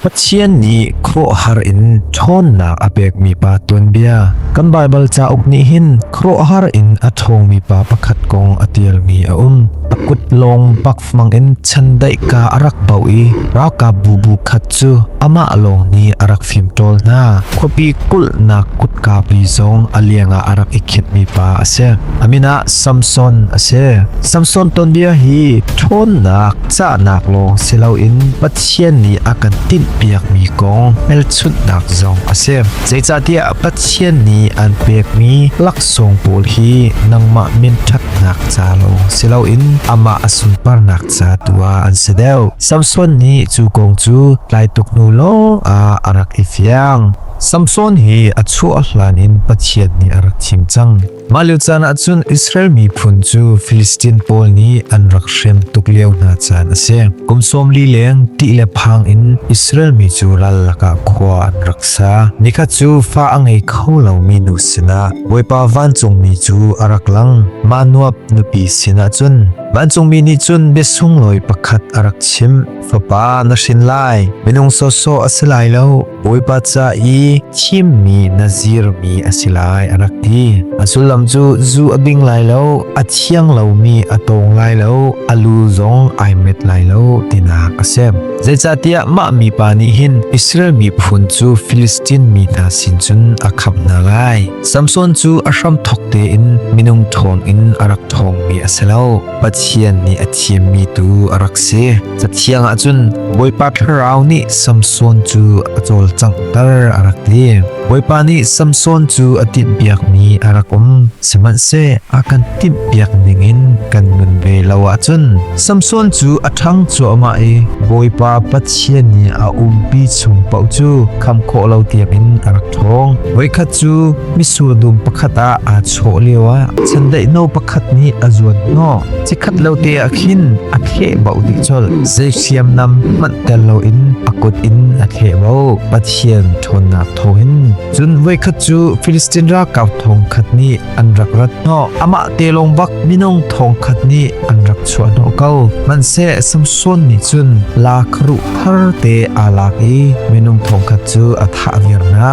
Pathian nih khuaruahhar in ṭhawnnak a pekmi pa tuanbia. Kan Baibal cauk nih hin khuaruahhar in a ṭhawngmi pa pakhat kong a ṭialmi a um. A kut lawng pakfang in chandaihka a rak bauh i ralkapbu bu khat cu amah lawng nih a rak fimṭawl hna. Khuapi kulhnak kutkapi zong a liangah a rak i khinhmi pa a si. A min ah Samson a si. Samson tuanbia hi ṭhawnnak Cahnak lawng si loin Pathian nih a kan tinhpiakmi kong hmelchunhnak zong a si. Zeicahtiah Pathian nih an pekmi laksawng pawl hi nangmah min ṭhatnak ca lawng si loin amah a sunparnak ca tu ah an si deuh. Samson nih cu kong cu tlai tuk hnu lawng ah a rak i fiang. Samson hi a chuah hlan in Pathian nih a rak thim cang. Mah lio caan ah cun Israel miphun cu Filistin pawl nih an rak hrem tuk lio hna caan a si. Kum sawm li leng ṭih le phang in Israel mi cu ral lakah khua an rak sa. Nikhat cu fa a ngei kho lomi nu sinah Bawipa vancungmi cu a rak lang. Mah nuap nupi sinah cun vancungmi nih cun biasunglawi pakhat a rak chimh. fapa na hrin lai minung sawsawh a si lai lo bawipa ca i thimmi na zirmi a si lai a rak ti a sullam cu zu a bing lai lo a thiang lomi a tawng lai lo a lu zong ai met lai lo tinak a si zeicahtiah mah mi pa nih hin Israel mi phun cu Filistin mi hna sin cun a khap hna lai Samson cu a hram thok tein minung thawng in a rak thawngmi a si lo Pathian nih a thiammi tu a rak si. Cathiang ah cun Bawipa Thlarau nih Samson cu a cawlcanghter a rak ti. Bawipa nih Samson cu a timhpiakmi a rak um. Sihmanhseh a kan timhpiak ningin kan nun ve lo ahcun Samson cu a ṭhang cuahmah i Bawipa Pathian nih a umpi chung paoh cu kham khawh lo tiangin a rak ṭhawng. Voikhat cu Mitsur dum pakhat ah aa chawh lio ah chandaih no pakhat nih a zuan hnawh. Cikhat lo te ah khin a kheh bau dik chol. Zeihriam nam manh tel lo in a kut in a kheh bau. Pathian ṭhawnnak tho hin. Cun voikhat cu Filistin ra kau thong khat nih an rak rat hnawh. Amah te long bak minong thong khat nih an rak chuah hnawh ko. Man se Samson nih cun la kharu thar te aa lak i minung thong khat cu a thah viar na.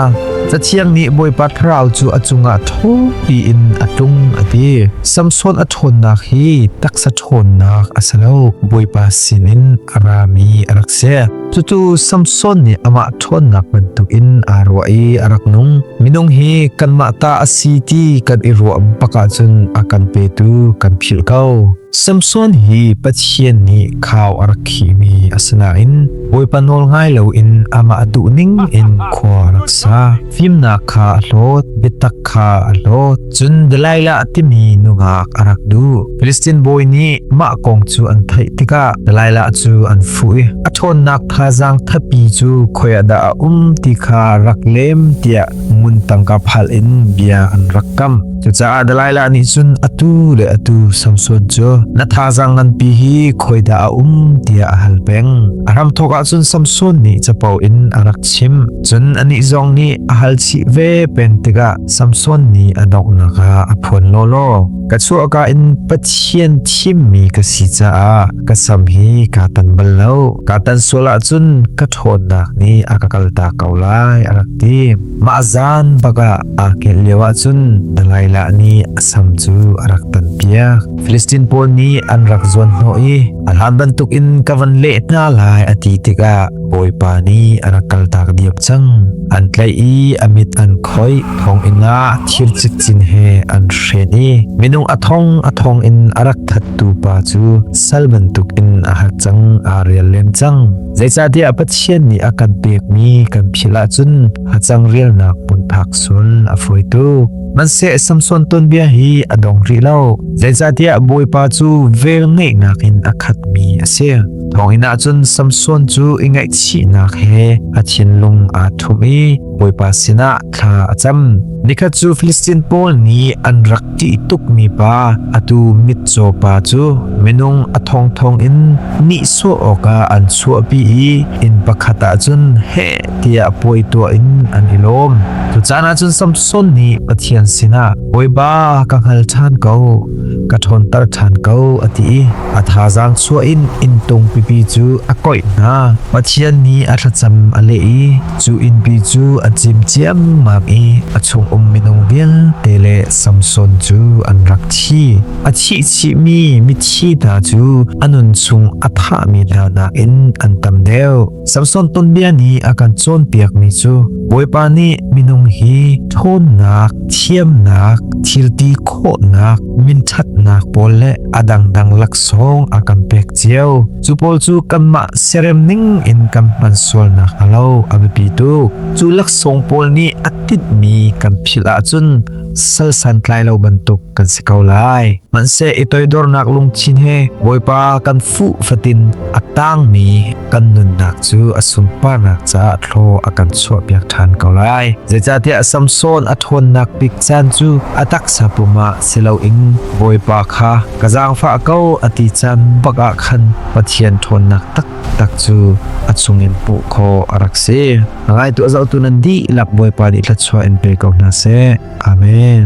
Cathiang nih Bawipa Thlarau cu a cungah tho piin a tlung a ti. Samson a ṭhawnnak hi taksa ṭhawnnak a si lo, Bawipa sinin a rami a rak si. Cutu Samson nih amah ṭhawnnak bantukin aa ruah i a rak nung. Minung hi kanmah ta a si ti kan i ruah bak ahcun a kan petu kan philh ko. Samson hi Pathian nih khau a rak khihmi a si nain Bawipa nawl ngai loin amah a duh ning in khua a rak sa. Fimnak kha a hlawt, biatak kha a hlawt. Cun Delilah timi nungak a rak duh. Filistin bawi nih mah kong cu an theih tikah Delilah cu an fuh i a ṭhawnnak thazaang thatpi cu khuaih dah a um ti kha rak lem tiah ngun tangka phal in bia an rak kam. Cucaah Delilah nih cun atu le atu Samson cu na thazang nganpi hi khoi dah a um tiah a hal peng. A hram thawk ah cun Samson nih capo in a rak chim. Cun anih zong nih a hal chih ve pen tikah Samson nih a donghnak ah a phuan lawlaw. Ka chuahka in Pathian thimmi ka si caah ka sam hi ka tan bal lo. Ka tan sual ah cun ka ṭhawnnak nih a ka kalta ko lai a rak ti. Mah zan bakah aa kelh lio ahcun Delilah nih a sam cu a rak tanpiak. Filistin pawl nih an rak zuan hnawh i a hlan bantuk in ka van leh hna lai a ti tikah Bawipa nih a rak kaltak diam cang. An tlaih i a mit an khoih, thonginn ah thir cikcin he an hren i minung a thong a thong in a rak thattu pa cu sal bantuk in a hat cang, aa rial len cang. Zeicahtiah Pathian nih a kan pekmi kan phil ahcun hacang rialnak hmun phak sun a fawi tuk manse samson tonbia hi a dong ri lo zeicahtiah bawipa cu vel neihnak in a khat mi a si thongin ahcun samson cu i ngaihchihnak he a thinlung aa thum i bawipa sinah thla a cam nikhat cu Filistin pawl nih an rak ṭih tuk mi pa atu mitcaw pa cu minung a thong thong in nihsawh awkah an chuahpi i inn pakhat ahcun he tiah puai tuah in an i lawm. Cu caan ah cun Samson nih Pathian sinah, Bawiba ka hngal ṭhan ko, ka ṭhawnter ṭhan ko, a ti i a thazaang chuah in inntung pipi cu a koih hna. Pathian nih a thlacam a leh i cu innpi cu a cim ciammam i a chungum minung vialte le Samson cu an rak thi. A thih chihmi mithi hna cu a nun chung a thahmi hna nakin an tam deuh. Samson tonbia nih a kan cawnpiakmi cu Bawipa nih minung hi ṭhawnnak, thiamnak, thilti khawhnak, minṭhatnak pawl le a dangdang laksawng a kan pek cio. Cu pawl cu kanmah serem ning in kan hman sualnak a lo a biapi tuk. Cu laksawng pawl nih a tinhmi kan philh ahcun sal santlai lo bantuk kan si ko lai. Hmanhseh i toidornak lungthin he Bawipa kan fuh fatin a tangmi kan nunnak cu a sunparnak caah thlaw a kan chuahpiak ṭhan ko lai. Zeicahtiah Samson a ṭhawnnak bik caan cu a taksa pum ah si loin Bawipa kha ka zaangfah ko a ti caan bak ah khan Pathian ṭhawnnak taktak cu a chungin puh khaw a rak si. A ngaitu a zohtu nan dihlak Bawipa nih thluachuah in pe ko hna seh. Amen.